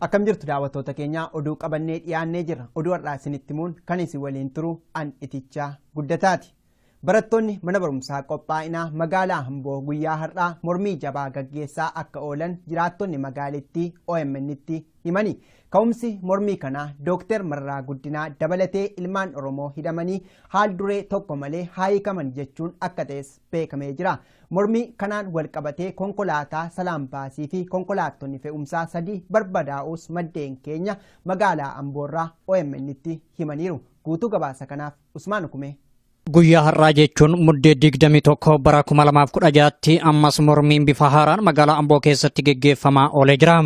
Akkam jirtu daawwattoota keenya oduu qabannee dhiyaannee jirra. Oduu har'aa isinitti himuun kan isin waliin turu an itichaa guddataati. Barattoonni mana barumsaa qophaa'inaa magaalaa Hamboo guyyaa har'aa mormii jabaa gaggeessaa akka oolan jiraattonni magaalittii OMN'tti himani. Ka'umsi mormii kanaa Dooktar Mararaa Guddinaa dabalatee ilmaan Oromoo hidhamanii haal duree tokko malee haa hiikaman jechuun akka ta'es beekamee jira. Mormii kanaan wal qabatee konkolaataa Salaam Baasii fi konkolaattonni fe'umsaa sadii barbadaa'uus maddeen keenya magaalaa Amboorraa OMN'tti himaniiru. Guutuu gabaasa kanaaf Usmaan Ukumee Guyyaa har'aa jechuun muddee 21 bara 2016tti ammas mormiin bifa haaraan magaalaa Amboo keessatti geggeeffamaa oolee jira.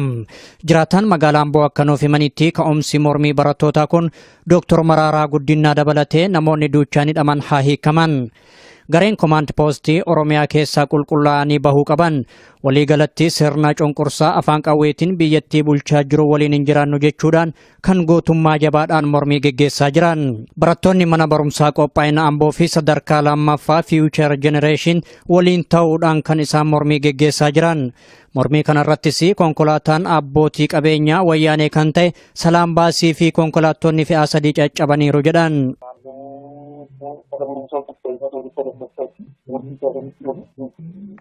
Jiraataan magaalaa Amboo akka nuuf himanitti ka'umsi mormii barattootaa kun Dooktor Maraaraa Guddinaa dabalatee namoonni duuchaan hidhaman haa hiikaman. Gareen komaand poostii Oromiyaa keessaa qulqullaa'anii bahuu qaban waliigalatti sirna cunqursaa afaan qawweetiin biyyattii bulchaa jiru waliin hin jiraannu jechuudhaan kan gootummaa jabaadhaan mormii geggeessaa jiran barattoonni mana barumsaa qophaa'ina amboo fi sadarkaa lammaffaa fiiwuchar jenereeshin waliin ta'uudhaan kan isaan mormii geggeessaa jiran mormii kanarrattis konkolaataan abbootii qabeenyaa wayyaanee kan ta'e salaam baasii fi konkolaattonni fe'aa sadii caccabaniiru jedhan.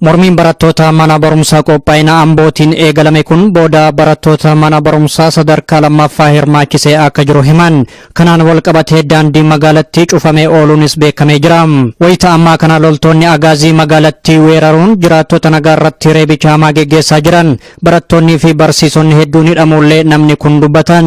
Mormiin barattoota mana barumsaa qophaa'ina Ambootiin eegalame kun booda barattoota mana barumsaa sadarkaa lammaffaa hirmaachisee akka jiru himan. Kanaan wal qabatee daandiin magaalattii cufamee ooluunis beekamee jira. Wayita ammaa kana loltoonni agaazii magaalattii weeraruun jiraattota nagaa irratti reebicha hamaa geggeessaa jiran. Barattoonnii fi barsiisonni hedduun hidhamuullee namni kun dubbatan.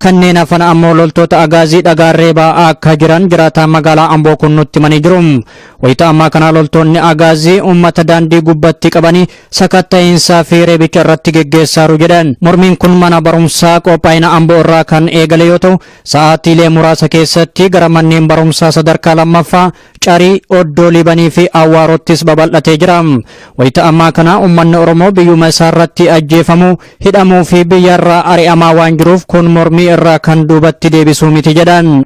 Kanneen hafan ammoo loltoota Agaazii dhagaan reebaa akka jiran jiraataan magaalaa Amboo kun nutti himanii jiru. Wayita ammaa kana loltoonni Agaazii uummata daandii gubbatti qabanii sakatta'iinsaa fi reebicha irratti geggeessaaru jedhan. Mormiin kun mana barumsaa qophaa'ina Amboo irraa kan eegale yoo ta'u, sa'aatiilee muraasa keessatti gara manneen barumsaa sadarkaa lammaffaa Carii, Oddoo Liibanii fi Awwaaroottis babal'atee jira. Wayita ammaa kana ummanni Oromoo biyyuma isaa irratti ajjeefamuu, hidhamuu fi biyya irraa ari'amaa waan jiruuf kun mormii irraa kan duubatti deebisuu miti jedhan.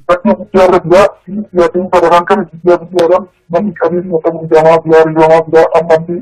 Rakkina guddaa irra jira. Siyaatiin sadaraan kana biyyaa biyyaadhaan namni qabeenya qabu hidhamaa jira, ari'amaa jira. Ammallee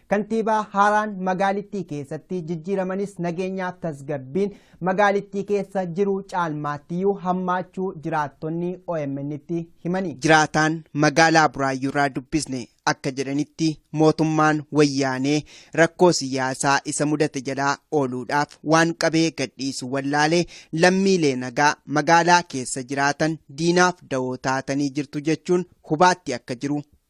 Kantiibaa haaraan magaalittii keessatti jijjiiramanis nageenyaaf tasgabbiin magaalittii keessa jiru caalmaattiyyuu hammaachuu jiraattonni OMN'tti himani. Jiraataan magaalaa Buraayyuurraa dubbisne akka jedhanitti mootummaan wayyaanee rakkoo siyaasaa isa mudate jalaa ooluudhaaf waan qabee gadhiisu wallaalee lammiilee nagaa magaalaa keessa jiraatan diinaaf dawoo taatanii jirtu jechuun hubaatti akka jiru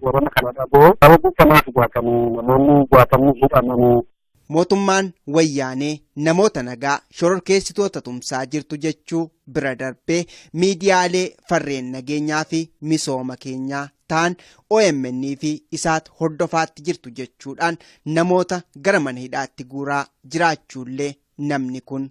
Warana kana dhaboo nama buufamaa dhugaatanii namoonni jaatamni hidhamanii. Mootummaan wayyaanee namoota nagaa shororkeessitoota tumsaa jirtu jechuu bira darbee miidiyaalee farreen nageenyaa fi misooma keenyaa ta'an OMN fi isaat hordofaatti jirtu jechuudhaan namoota gara mana hidhaatti guuraa jiraachuullee namni kun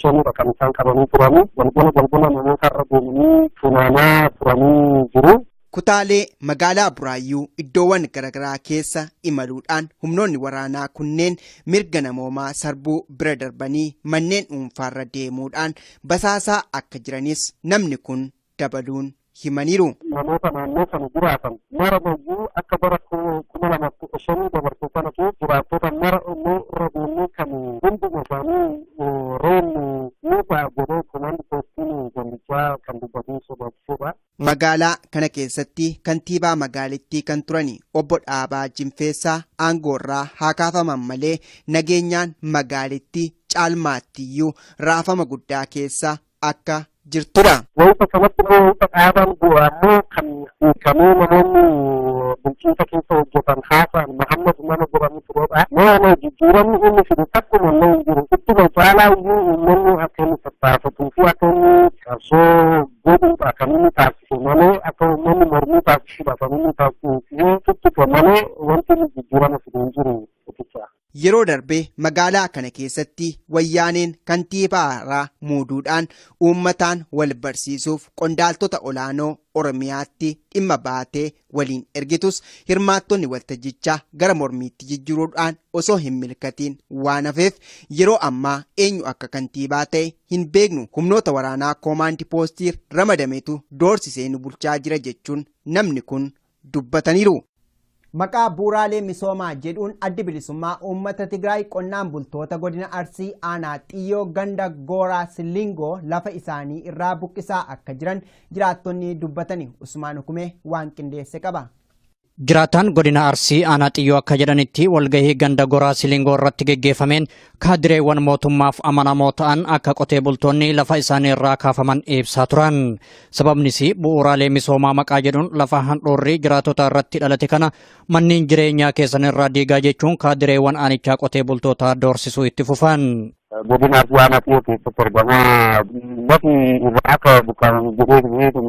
Sonuudha kan isaan qabanii turanii galgala galgala namoota irra deemanii funaanaa turanii jiru. Kutaalee magaalaa Buraayyuu iddoowwan garaagaraa keessa imaluudhaan humnoonni waraanaa kunneen mirga namoomaa sarbuu bira darbanii manneen dhuunfaarra deemuudhaan basaasaa akka jiranis namni kun dabaluun himaniiru. Namoota naannoo sana jiraatan mara mayyuu akka bara 2015 dabarse kana keessa jiraattota mara illee irra deemnee kan hunduma isaanii reebnu ni ta'a jedhee komaand poostiin gandichaa kan dubbatee sodaachisedha. Magaalaa kana keessatti kantiibaa magaalittii kan turani obbo Dhaabaa Jinfeessaa aangoorraa haa kaafaman malee nageenyaan magaalitti caalmaattiyyuu raafama guddaa keessa akka jirtudha. Wayita kanatti immoo wayita dhaabaan bu'u ammoo kan hiikamee namoonni bulchiinsa keessa hojjetan haasa'an Mahammad nama jedhamu turedha. Nama jijjiiramni inni fidu takkuma illee hin jiru. Ittuma caalaa iyyuu uummanni akka inni tattaafatuu fi akka inni qabsoo godhuudha kan inni taasise malee akka uummanni mormii taasisuudha kan inni taasise tuttuqe malee wanti inni jijjiirama fidu hin jiru. Yeroo darbe magaalaa kana keessatti wayyaaneen kantiibaa haaraa muuduudhaan uummataan wal barsiisuuf qondaaltota olaanoo Oromiyaatti dhimma baatee waliin ergitus hirmaattonni waltajjichaa gara mormiitti jijjiruudhaan osoo hin milkatiin waan hafeef yeroo ammaa eenyu akka kantiibaa ta'e hin beeknu humnoota waraanaa koomaandi poostiir ramadametu doorsisee nu bulchaa jira jechuun namni kun dubbataniiru. Maqaa bu'uuraalee misoomaa jedhuun Addi Bilisummaa Uummata Tigraay qonnaan bultoota Godina Arsii Aanaa Xiyyoo ganda Gooraa Sillingoo lafa isaanii irraa buqqisaa akka jiran jiraattonni dubbatani Usmaan Hukumee waan qindeesse qaba. Jiraataan Godina Arsii Aanaa Xiyyoo akka jedhanitti walgahii ganda Goraa Silingoo irratti geggeeffameen Kaadireewwan mootummaaf amanamoo ta'an akka qotee bultoonni lafa isaanii irraa kaafaman ibsaa turan. Sababnis bu'uuraalee misoomaa maqaa jedhuun lafa handhuurri jiraatota irratti dhalate kana manneen jireenyaa keessan irraa diigaa jechuun kaadireewwan aanichaa qotee bultootaa doorsisuu itti fufan. godina Arsii Aanaa Xiyoo keessatti argama. Lafi irraa akka buqqa'an jedhee kun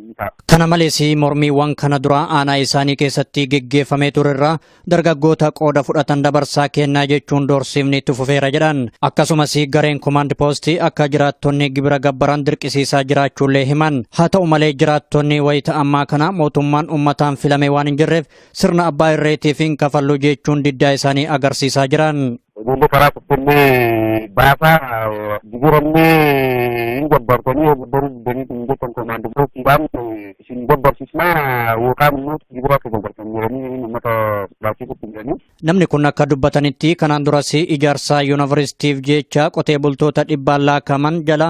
ni ta'a. Kana malees mormiiwwan kana dura aanaa isaanii keessatti geggeeffamee ture irraa dargaggoota qooda fudhatan dabarsaa kennaa jechuun doorsiifni itti fufeera jedhan. Akkasumas gareen komaand poostii akka jiraattonni gibira gabbaran dirqisiisaa jiraachuullee himan. Haa ta'u malee jiraattonni wayita ammaa kana mootummaan ummataan filame waan hin jirreef Sirna abbaa irreetiif hin kafallu jechuun diddaa isaanii agarsiisaa jiran. Ijoollee karaa kuttannee baasaa jijjiirannee hin gabbartanii yoo gabbaruu diddanii hin jettan komaandi bookiidhaan isin gabbarsisnaa yookaan immoo jibira akka gabbartan jedhanii uummata baachiisutti jedhanii. Namni kun akka dubbatanitti kanaan duras ijaarsa yuunivarsiitiif jecha qotee bultoota dhibbaan laakaman jala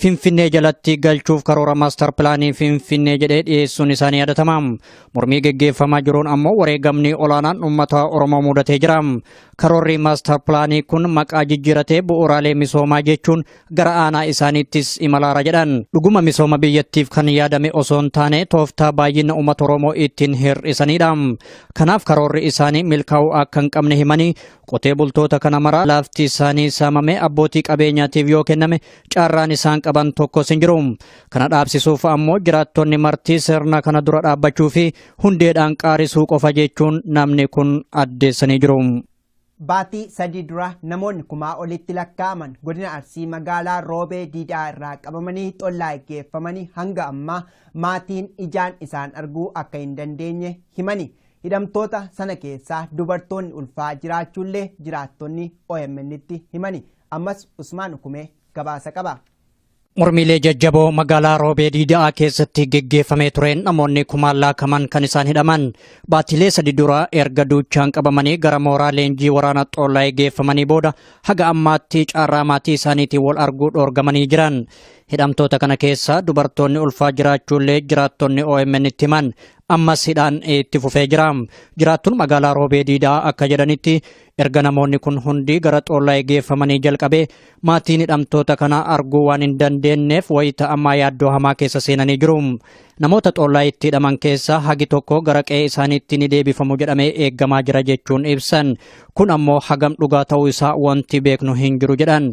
Finfinnee jalatti galchuuf karoora maastar pilaanii Finfinnee jedhee dhiyeessuun isaanii yaadatama. Mormii geggeeffamaa jiruun ammoo wareegamni olaanaan uummata Oromoo mudatee jira. Karoorri maastar pilaanii kun maqaa jijjiiratee bu'uuraalee misoomaa jechuun gara aanaa isaaniittis imalaara jedhan. Dhuguma misooma biyyattiif kan yaadame osoo hin taane tooftaa baay'ina uummata Oromoo ittiin hir'isanidha. Kanaaf karoorri isaanii milkaa'uu akka hin qabne himanii Qotee bultoota kana maraa lafti isaanii saamamee abbootii qabeenyaatiif yoo kenname carraan isaan qaban tokkos hin jiru. Kana dhaabsisuuf ammoo jiraattonni martii sirna kana dura dhaabbachuu fi hundeedhaan qaarisuu qofa jechuun namni kun addeessanii jiru. Baatii sadii dura namoonni kumaa olitti lakkaa'aman godina Arsii magaalaa Roobee Diidaa irraa qabamanii xollaa geeffamanii hanga ammaa maatiin ijaan isaan arguu akka hin dandeenye himani. Hidhamtoota sana keessaa dubartoonni ulfaa jiraachuullee jiraattonni OMNtti himani. Ammas Usmaan Ukumee gabaasa qaba. Mormiilee jajjaboo magaalaa Roobee Diida'aa keessatti geggeeffamee tureen namoonni kumaan laakaman kan isaan hidhaman baatilee sadi dura erga duuchaan qabamanii gara mooraa leenjii waraana Xoolaayee geeffamanii booda haga ammaatti carraa maatii isaaniitiin wal arguu dhoorgamanii jiran. Hidhamtoota kana keessa dubartoonni ulfaa jiraachuullee jiraattonni OMN itti himan Ammas hidhaan itti fufee jira. Jiraattuun magaalaa Roobee Diidaa akka jedhanitti erga namoonni kun hundi gara Xoollaayee geeffamanii jalqabee maatiin hidhamtoota kana arguu waan hin dandeenyeef wayita ammaa yaaddoo hamaa keessa seenanii jiru. Namoota Xoollaayeetti hidhaman keessaa hagi tokko gara qe'ee isaaniitti ni deebifamu jedhamee eegamaa jira jechuun ibsan. Kun ammoo hagam dhugaa ta'uu isaa wanti beeknu hin jiru jedhan.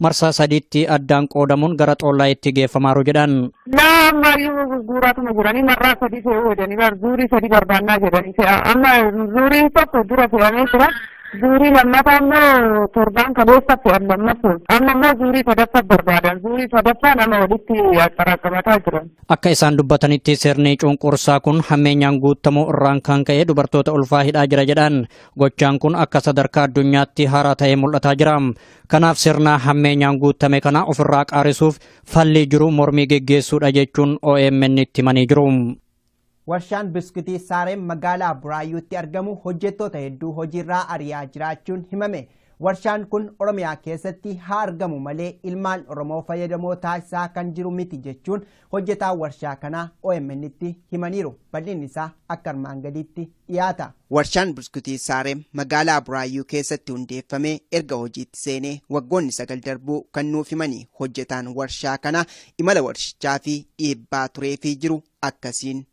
marsaa sadiitti addaan qoodamuun gara xoollaayitti geeffamaaru jedhan. Naa marii gurguuraatuma jiranii marraa sadii fe'uu jedhanii bar zuurii sadii barbaannaa jedhanii fe'a amma zuuriin tokko dura fe'amee jira. Zuurii lammataa immoo torbaan kaleessa fe'an lammatu amma immoo zuurii sadaffaa barbaadan zuurii sadaffaa nama walitti xaraqqamataa jiran. Akka isaan dubbatanitti sirni cunqursaa kun hammeenyaan guutamuu irraan kan ka'e dubartoota ulfaa hidhaa jira jedhan gochaan kun akka sadarkaa addunyaatti haaraa ta'ee mul'ataa jira. Kanaaf sirna hammeenyaan guuttame kana ofirraa qaarisuuf fallii jiru mormii geggeessuudha jechuun OMN itti himanii jiru. Warshaan biskitii Saarem magaalaa Buraayyuutti argamu hojjettoota hedduu hojiirraa ari'aa jiraachuun himame. Warshaan kun Oromiyaa keessatti haa argamu malee ilmaan Oromoo fayyadamoo taasisaa kan jiru miti jechuun hojjetaan warshaa kanaa OMNtti himaniiru. Bal'inni isaa akka armaan gadiitti dhiyaata. Warshaan Buskutii Saarem magaalaa Buraayyuu keessatti hundeeffamee erga hojiitti seenee waggoonni sagal darbuu kan nuuf himanii hojjetaan warshaa kanaa imala warshichaa fi dhiibbaa turee fi jiru akkasiin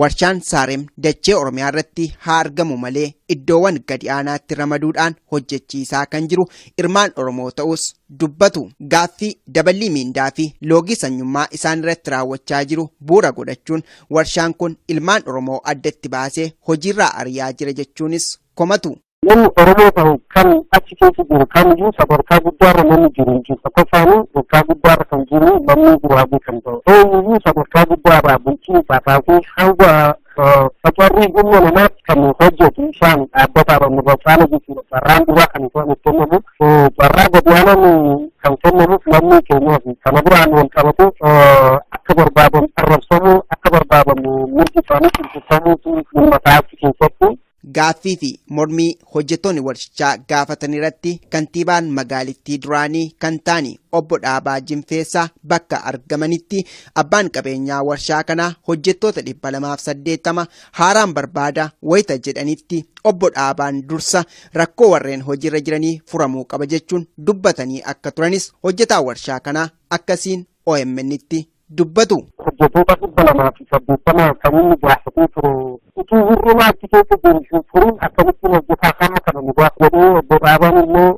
Warshaan Saarem dachee Oromiyaa irratti haa argamu malee iddoowwan gadi aanaatti ramaduudhaan hojjechiisaa kan jiru irmaan Oromoo ta'us dubbatu. Gaaffii daballii miindaa fi loogii sanyummaa isaan irratti raawwachaa jiru bu'uura godhachuun warshaan kun ilmaan Oromoo addatti baasee hojiirraa ariyaa jira jechuunis komatu. Namni Oromoo ta'u kan achi keessa jiru kamiyyuu sadarkaa guddaarra namni jiru hin jiru. Tokkoffaanii sadarkaa guddaarra kan jiru lammii guraaguu kan ta'u. Eenyuyyuu sadarkaa guddaarraa bulchiinsaa kaasee hanga facarrii humna namaatti kan hojjetu isaan dhaabbataadha nurra caala jechuudha. Carraan duraa kan isaan itti kennamu carraa gadiyaanaan kan kennamuuf lammii keenyaaf kana biraan wal qabatu akka barbaadan arrabsamuu akka barbaadan mirgi isaanii cimsifamuutu dhimma taasisuu keessatti Gaaffii fi mormii hojjettoonni warshichaa gaafatan irratti kantiibaan magaalittii duraanii kan taani obbo Dhaabaa Jinfeessaa bakka argamanitti abbaan qabeenyaa warshaa kanaa hojjettoota 280 haaraan barbaada wayita jedhanitti obbo Dhaabaan dursa rakkoo warreen hojiirra jiranii furamuu qaba jechuun dubbatanii akka turanis hojjetaa warshaa kanaa akkasiin OMN'tti dubbatu. hojjetoota dhibba lamaa fi saddeettama kan inni gaafatee ture utuu hir'ina achi keessa jiru hin furin akkamittiin hojjetaa hamma kana nu gaaf jedhee obbo Dhaabaan immoo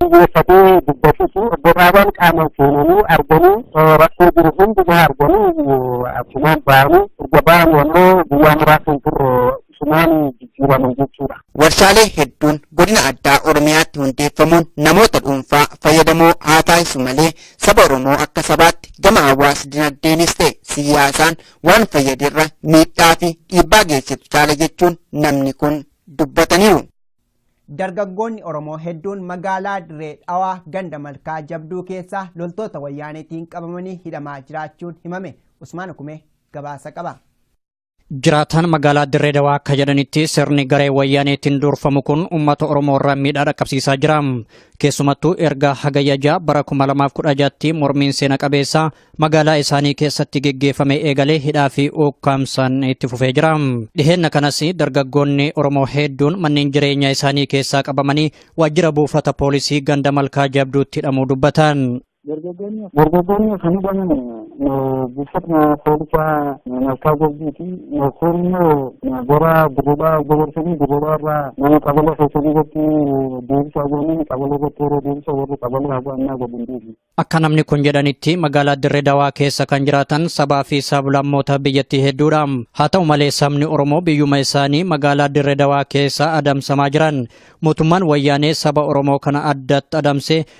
xiyyeeffatee dubbatutu obbo Dhaabaan qaamaan seenanii arganii rakkoo jiru hundumaa arganii achumaan ba'anii erga ba'anii ammoo guyyaa muraasa hin turre cimaan jijjiiraman jechuudha. Warshaalee hedduun godina addaa Oromiyaatti hundeeffamuun namoota dhuunfaa fayyadamoo haa taasisu malee saba Oromoo akka sabaatti gama hawaas dinagdeenis ta'e siyaasaan waan fayyaderra miidhaa fi dhiibbaa geessisu caala jechuun namni kun dubbataniiru. Dargaggoonni Oromoo hedduun magaalaa Dirree Dhawaa ganda malkaa jabduu keessaa loltoota wayyaaneetiin qabamanii hidhamaa jiraachuun himame. Usmaan Hukumee gabaasa qaba. Jiraataan magaalaa Dirree Dawaa akka jedhanitti sirni garee wayyaaneetiin durfamu kun uummata Oromoo irra miidhaa dhaqqabsiisaa jira. Keessumattuu erga hagayya ja'a bara 2016tti mormiin seena qabeessa magaalaa isaanii keessatti geggeeffame eegalee hidhaa fi ukkaamsaan itti fufee jira. Dhiheenna kanas dargaggoonni Oromoo hedduun manneen jireenyaa isaanii keessaa qabamanii waajjira buufata poolisii ganda malkaa jabduutti hidhamuu dubbatan. Dargaggoonni kan hidhaman buufatuma poolisii malkaa jabbiiti. Kun immoo gara dirribaa dabarsanii dirribaa irraa mana qabala keessanii irratti deebisaa jiranii qabala irratti yeroo deebisa warri qabala haga ammaa gadi hin deebiin. Akka namni kun jedhanitti magaalaa Dirree Dawaa keessa kan jiraatan sabaa fi sablammoota biyyattii hedduudha. Haa ta'u malee sabni Oromoo biyyuma isaanii magaalaa Dirree Dawaa keessa adamsamaa jiran. Mootummaan wayyaanee saba Oromoo kana addatti adamsee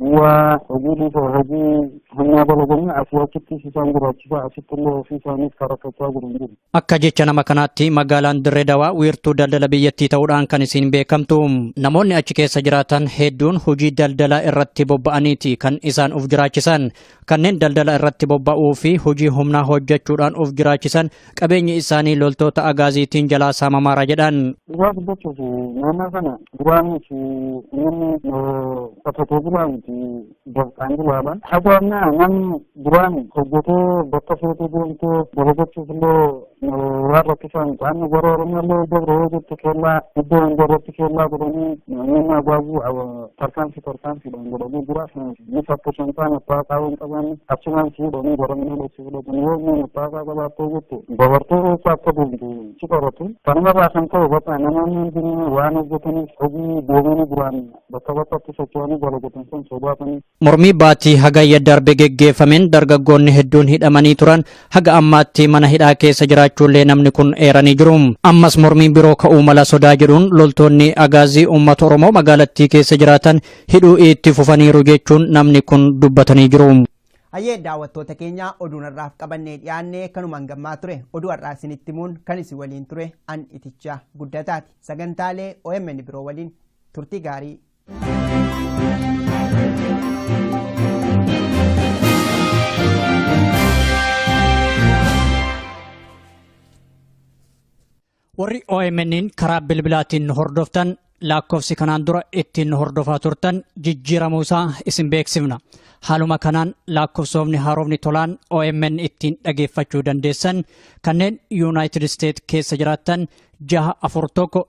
Waa hojii dhiisoo hojii humnaa dalaganii asii achittis isaan jiraachisaa asitti illee ofii isaaniif karakkachaa jiru hin jiru. Akka jecha nama kanaatti magaalaan Dirree Dawaa wiirtuu daldala biyyattii ta'uudhaan kan isiin beekamtu. Namoonni achi keessa jiraatan hedduun hojii daldalaa irratti bobba'aniiti kan isaan of jiraachisan. Kanneen daldala irratti bobba'uu fi hojii humnaa hojjechuudhaan of jiraachisan qabeenyi isaanii loltoota agaaziitiin jalaa saamamaara jedhan. Dhugaa dubbachuuf naannoo kana duraanis namni qotatee bulaa miti dafqaan bulaadha. Haga ammaa namni duraan hojjetee bakka feetee deemtee dalagachuuf illee Warra kisan qaamni gara Oromoo illee dabre yoo jettu keellaa iddoo hunda irratti keellaa godhanii namoonni agwaazii tarkaanfii tarkaanfiidhaan godhanii jira. Ni fakkishan ta'an abbaa qaawwa hin qabaanne achumaan si hidhanii goromina dhoksuu fudhatan yoo inni abbaa qaawwa qabaattee jettu dabartee eessa akka deemtu si qoratu. Kanarraa kan ka'e bakka namoonni hundinuu waan hojjetaniif hojii deemanii duraan bakka bakkatti socho'anii dalagatan sun sodaatanii Mormii baatii Hagayya darbe geggeeffameen dargaggoonni hedduun hidhamanii turan haga ammaatti mana hidhaa keessa jiraachuullee namni kun eeranii jiru. Ammas mormiin biroo ka'uu mala sodaa jedhuun loltoonni Agaazii uummata Oromoo magaalattii keessa jiraatan hidhuu itti fufaniiru jechuun namni kun dubbatanii jiru. Hayyee daawwattoota keenya oduun har'aaf qabannee dhiyaanne kanumaan gammaa ture oduu har'aa isinitti himuun kan isin waliin ture an itichaa guddataati sagantaalee OMN biroo waliin turtii gaarii. Warri OMN'n karaa bilbilaatiin hordoftan lakkoofsi kanaan dura ittiin hordofaa turtan jijjiiramuu isaa isin beeksifna. Haaluma kanaan lakkoofsoofni haarofni tolaan OMN ittiin dhageeffachuu dandeessan kanneen Yuunaayitid Isteet keessa jiraattan jaha afur tokko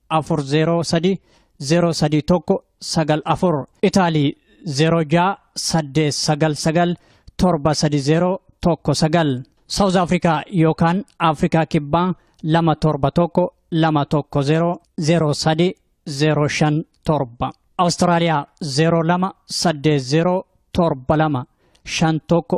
afur zeeroo sadii zeeroo sadii tokko sagal afur itaalii zeeroo ja'a saddeet sagal sagal torba sadi zeeroo tokko sagal saawuz afrikaa yookaan afrikaa kibbaa lama torba tokko lama tokko zeeroo zeeroo sadi zeeroo shan torba awustiraaliyaa zeeroo lama saddeet zeeroo torba lama shan tokko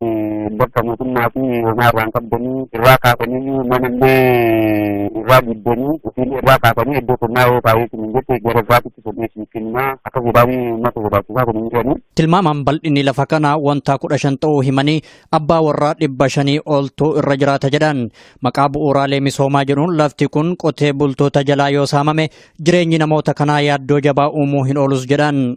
Bakka mootummaa fi homaa irraa hin qabdanii irraa kaasanii mana illee irraa diddanii ofiillee irraa kaasanii iddoo qonnaa yoo taa'ee kun hin jette gara irraatitti sodheessu kenna akka godaanii uummata godaachisaa kun hin jedhanii. Tilmaamaan bal'inni lafa kanaa wantaa kudha shan ta'uu himanii abbaa warraa dhibba shanii oltu irra jiraata jedhan. Maqaa bu'uuraalee misoomaa jedhuun lafti kun qotee bultoota jalaa yoo saamame jireenyi namoota kanaa yaaddoo jabaa uumuu hin oolus jedhan.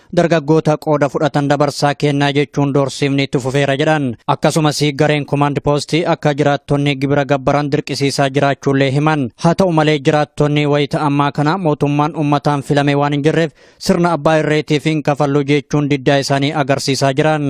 dargaggoota qooda fudhatan dabarsaa kennaa jechuun doorsiifni itti fufeera jedhan akkasumas gareen komaand poostii akka jiraattonni gibira gabbaran dirqisiisaa jiraachuullee himan haa ta'u malee jiraattonni wayita ammaa kana mootummaan ummataan filame waan hin jirreef sirna abbaa irreetiif hin kafallu jechuun diddaa isaanii agarsiisaa jiran.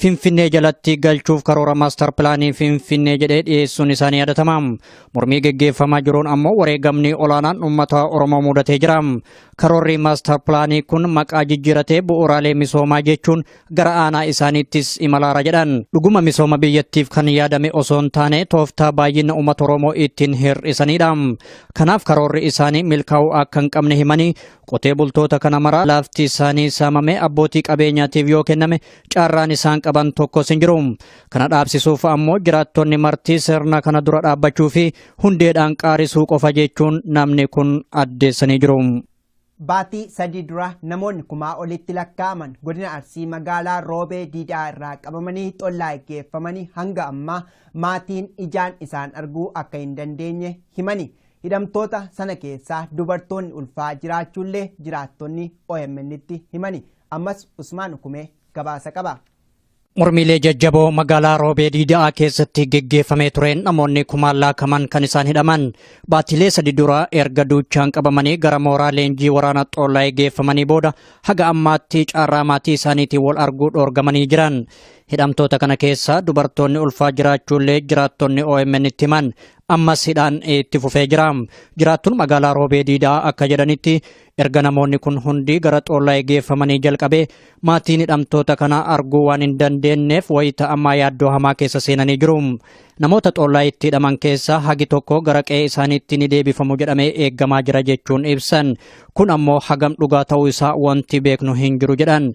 Finfinnee jalatti galchuuf karoora maastar pilaanii Finfinnee jedhee dhiyeessuun isaanii yaadatama. Mormii geggeeffamaa jiruun ammoo wareegamni olaanaan uummata Oromoo mudatee jira. Karoorri maastar pilaanii kun maqaa jijjiiratee bu'uuraalee misoomaa jechuun gara aanaa isaaniittis imalaara jedhan. Dhuguma misooma biyyattiif kan yaadame osoo hin taane tooftaa baay'ina uummata Oromoo ittiin hir'isanidha. Kanaaf karoorri isaanii milkaa'uu akka hin qabne himanii Qotee bultoota kana maraa lafti isaanii saamamee abbootii qabeenyaatiif yoo kenname carraan isaan qaban tokkos hin jiru. Kana dhaabsisuuf ammoo jiraattonni martii sirna kana dura dhaabbachuu fi hundeedhaan qaarisuu qofa jechuun namni kun addeessanii jiru. Baatii sadii dura namoonni kumaa olitti lakkaa'aman godina Arsii magaalaa Roobee Diidaa irraa qabamanii xollaa geeffamanii hanga ammaa maatiin ijaan isaan arguu akka hin dandeenye himani. Hidhamtoota sana keessaa dubartoonni ulfaa jiraachuullee jiraattonni OMN'tti himani. Ammas Usmaan Ukumee gabaasa qaba. Mormiilee jajjaboo magaalaa Roobee Diida'aa keessatti geggeeffamee tureen namoonni kumaan laakaman kan isaan hidhaman baatilee sadi dura erga duuchaan qabamanii gara mooraa leenjii waraana Xoolaayee geeffamanii booda haga ammaatti carraa maatii isaaniitiin wal arguu dhoorgamanii jiran. Hidhamtoota kana keessaa dubartoonni ulfaa jiraachuullee jiraattonni OMN itti himan Ammas hidhaan itti fufee jira. Jiraattuun magaalaa Roobee Diidaa akka jedhanitti erga namoonni kun hundi gara Xoollaayee geeffamanii jalqabee maatiin hidhamtoota kana arguu waan hin dandeenyeef wayita ammaa yaaddoo hamaa keessa seenanii jiru. Namoota Xoollaayeetti hidhaman keessaa hagi tokko gara qe'ee isaaniitti ni deebifamu jedhamee eegamaa jira jechuun ibsan. Kun ammoo hagam dhugaa ta'uu isaa wanti beeknu hin jiru jedhan.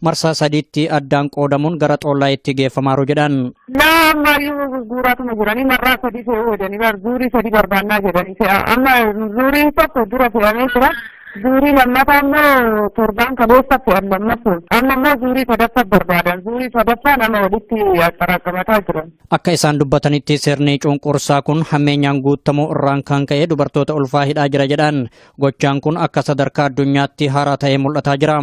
marsaa sadiitti addaan qoodamuun gara xoollaayitti geeffamaaru jedhan. Naa ammayyuu gurguuraatuma jiranii marraa sadii fe'uu jedhanii bar zuurii sadii barbaannaa jedhanii fe'a amma zuuriin tokko dura fe'amee jira. Zuurii lammataa immoo torbaan kaleessa fe'an lammatu amma immoo zuurii sadaffaa barbaadan zuurii sadaffaa nama walitti axxaraaqamataa jiran. Akka isaan dubbatanitti sirni cunqursaa kun hammeenyaan guutamuu irraan kan ka'e dubartoota ulfaa hidhaa jira jedhan. Gochaan kun akka sadarkaa addunyaatti haaraa ta'ee mul'ataa jira.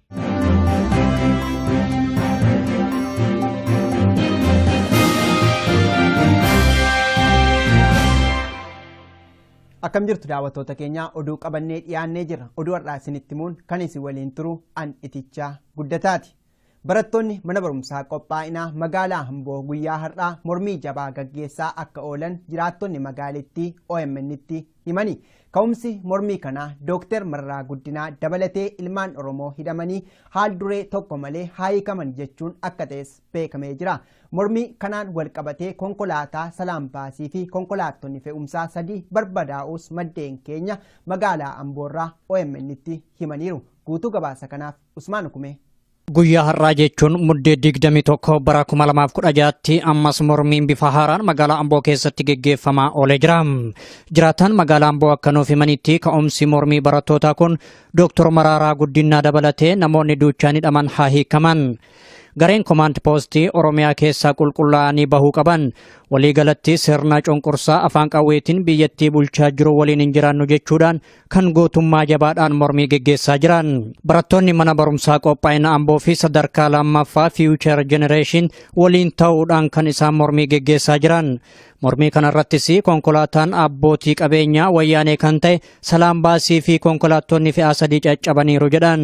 Akkam jirtu daawwattoota keenya oduu qabannee dhiyaannee jirra. Oduu har'aa isinitti himuun kan isin waliin turu an itichaa guddataati. Barattoonni mana barumsaa qophaa'inaa magaalaa Amboo guyyaa har'aa mormii jabaa gaggeessaa akka oolan jiraattonni magaalittii OMN'tti himani. Ka'umsi mormii kanaa Dooktar Mararaa Guddinaa dabalatee ilmaan Oromoo hidhamanii haal duree tokko malee haa hiikaman jechuun akka ta'es beekamee jira. Mormii kanaan wal qabatee konkolaataa Salaam Baasii fi konkolaattonni fe'umsaa sadii barbadaa'uus maddeen keenya magaalaa Amboorraa OMNtti himaniiru. Guutuu gabaasa kanaaf Usmaan Ukumee Guyyaa har'aa jechuun muddee 21 bara 2016tti ammas mormiin bifa haaraan magaalaa Amboo keessatti geggeeffamaa oolee jira. Jiraataan magaalaa Amboo akka nuuf himanitti ka'umsi mormii barattootaa kun Dooktor Maraaraa Guddinaa dabalatee namoonni duuchaan hidhaman haa hiikaman. Gareen komaand poostii Oromiyaa keessaa qulqullaa'anii bahuu qaban waliigalatti sirna cunqursaa afaan qawweetiin biyyattii bulchaa jiru waliin hin jiraannu jechuudhaan kan gootummaa jabaadhaan mormii geggeessaa jiran barattoonni mana barumsaa qophaa'ina amboo fi sadarkaa lammaffaa fiiwuchar jenereeshin waliin ta'uudhaan kan isaan mormii geggeessaa jiran mormii kanarrattis konkolaataan abbootii qabeenyaa wayyaanee kan ta'e salaam baasii fi konkolaattonni fe'aa sadii caccabaniiru jedhan.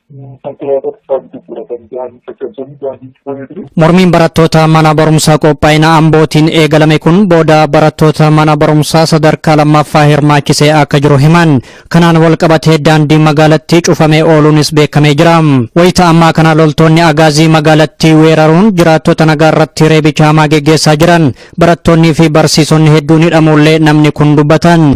Mormiin barattoota mana barumsaa qophaa'ina Ambootiin eegalame kun booda barattoota mana barumsaa sadarkaa lammaffaa hirmaachisee akka jiru himan. Kanaan wal qabatee daandiin magaalattii cufamee ooluunis beekamee jira. Wayita ammaa kana loltoonni agaazii magaalattii weeraruun jiraattota nagaa irratti reebicha hamaa geggeessaa jiran. Barattoonnii fi barsiisonni hedduun hidhamuullee namni kun dubbatan.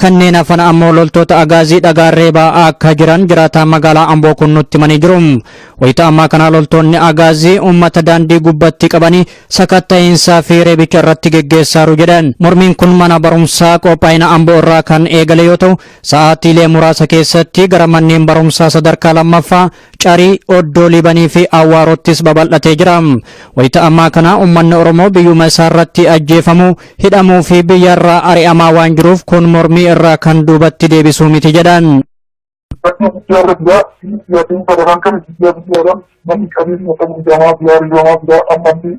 Kanneen hafan ammoo loltoota Agaazii dhagaan reebaa akka jiran jiraataan magaalaa Amboo kun nutti himanii jiru. Wayita ammaa kana loltoonni Agaazii uummata daandii gubbatti qabanii sakatta'iinsaa fi reebicha irratti geggeessaaru jedhan. Mormiin kun mana barumsaa qophaa'ina Amboo irraa kan eegale yoo ta'u, sa'aatiilee muraasa keessatti gara manneen barumsaa sadarkaa lammaffaa Carii, Oddoo Liibanii fi Awwaaroottis babal'atee jira. Wayita ammaa kana ummanni Oromoo biyyuma isaa irratti ajjeefamuu, hidhamuu fi biyya irraa ari'amaa waan jiruuf kun mormii irraa kan duubatti deebisuu miti jedhan. Rakkoo guddaa irra jira. Siyaatiin sadaraan kana biyyaa biyyaadhaan manni qabeenya ta'uu hidhamaa jira, ari'amaa jira. Ammallee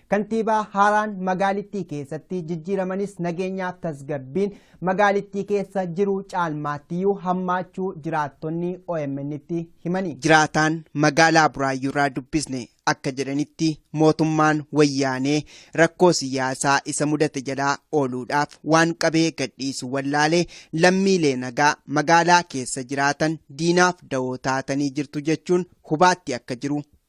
Kantiibaa haaraan magaalittii keessatti jijjiiramanis nageenyaaf tasgabbiin magaalittii keessa jiru caalmaattiyyuu hammaachuu jiraattonni OMN'tti himani. Jiraataan magaalaa Buraayyuurraa dubbisne akka jedhanitti mootummaan wayyaanee rakkoo siyaasaa isa mudate jalaa ooluudhaaf waan qabee gadhiisu wallaalee lammiilee nagaa magaalaa keessa jiraatan diinaaf dawoo taatanii jirtu jechuun hubaatti akka jiru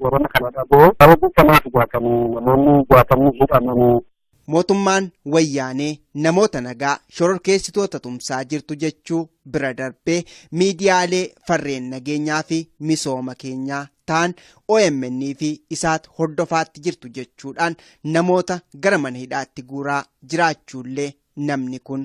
Warana kana dhaboo saba buufamaa dhugaatanii namoonni jaatamni hidhamanii. Mootummaan wayyaanee namoota nagaa shororkeessitoota tumsaa jirtu jechuu bira darbee miidiyaalee farreen nageenyaa fi misooma keenyaa ta'an OMN fi isaat hordofaatti jirtu jechuudhaan namoota gara mana hidhaatti guuraa jiraachuullee namni kun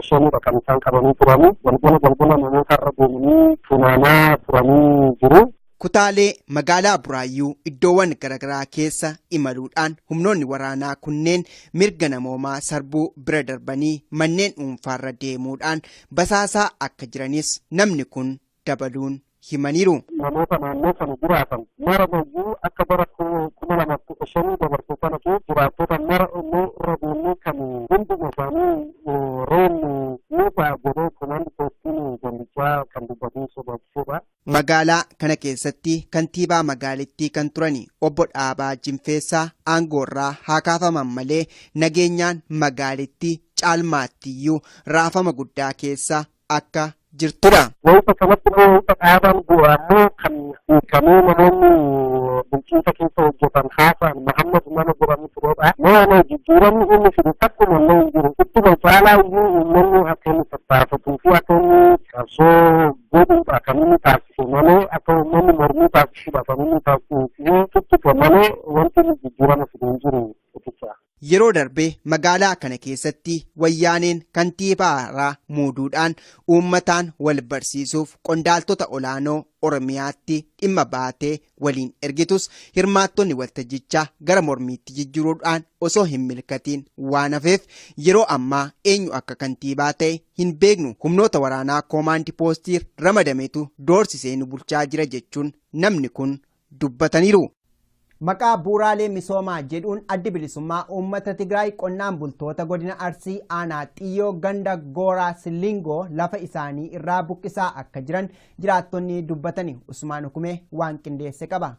shanidha kan isaan qabanii turanii galgala galgala namoota irra deemanii funaanaa turanii jiru. Kutaalee magaalaa Buraayyuu iddoowwan garaagaraa keessa imaluudhaan humnoonni waraanaa kunneen mirga namoomaa sarbuu bira darbanii manneen dhuunfaarra deemuudhaan basaasaa akka jiranis namni kun dabaluun himaniiru. Namoota naannoo sana jiraatan mara mayyuu akka bara 2015 dabarse kana keessa jiraattota mara onnee irra deemnee kan hunduma isaanii reennu ni ta'a jedhee komaand poostiin gandichaa kan dubbatee sodaachisedha. Magaalaa kana keessatti kantiibaa magaalittii kan turan obbo Dhaabaa Jinfeessaa aangoorraa haa kaafaman malee nageenyaan magaalittii caalmaattiyyuu raafama guddaa keessa akka jirtudha. Wayita kanatti immoo wayita dhaabaan bu'u ammoo kan hiikamee namoonni bulchiinsa keessa hojjetan haasaan Mahammad nama jedhamu turedha. Nama jijjiiramni inni fidu takkuma illee hin jiru. Ittuma caalaa iyyuu uummanni akka inni tattaafatuu fi akka inni qabsoo godhuudha kan inni taasise malee akka uummanni mormii taasisuudha kan inni taasise tuttuqe malee wanti inni jijjiirama fidu hin jiru. Yeroo darbe magaalaa kana keessatti wayyaaneen kantiibaa haaraa muuduudhaan uummataan wal barsiisuuf qondaaltota olaanoo Oromiyaatti dhimma baatee waliin ergitus hirmaattonni waltajjichaa gara mormiitti jijjiruudhaan osoo hin milkatiin waan hafeef yeroo ammaa eenyu akka kantiibaa ta'e hin beeknu humnoota waraanaa koomaandi poostiir ramadametu doorsisee nu bulchaa jira jechuun namni kun dubbataniiru. Maqaa bu'uuraalee misoomaa jedhuun Addi Bilisummaa Uummata Tigraay qonnaan bultoota Godina Arsii Aanaa Xiyyoo ganda Gooraa Silingoo lafa isaanii irraa buqqisaa akka jiran jiraattonni dubbatani Usmaan Hukumee waan qindeesse qaba.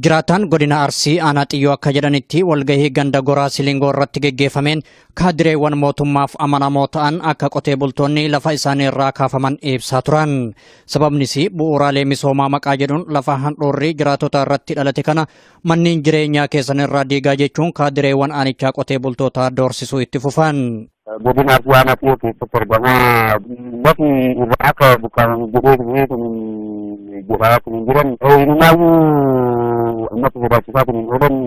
Jiraataan godina Arsii aanaa xiyyoo akka jedhanitti walgahii ganda goraa silingoo irratti geggeeffameen Kaadireewwan mootummaaf amanamoo ta'an akka qotee bultoonni lafa isaanii irraa kaafaman ibsaa turan. Sababnis bu'uuraalee misoomaa maqaa jedhuun lafa handhuurrii jiraatota irratti dhalate kana manneen jireenyaa keessan irraa diigaa jechuun kaadireewwan aanichaa qotee bultootaa doorsisuu itti fufan. Godina Arsii Aanaa Xiyoo keessatti argama. Lafi irraa akka buqqaaman jedhee dhufee kun godhaa kun jiran. Inumaayyuu ammatti sodaachisaa kun oolan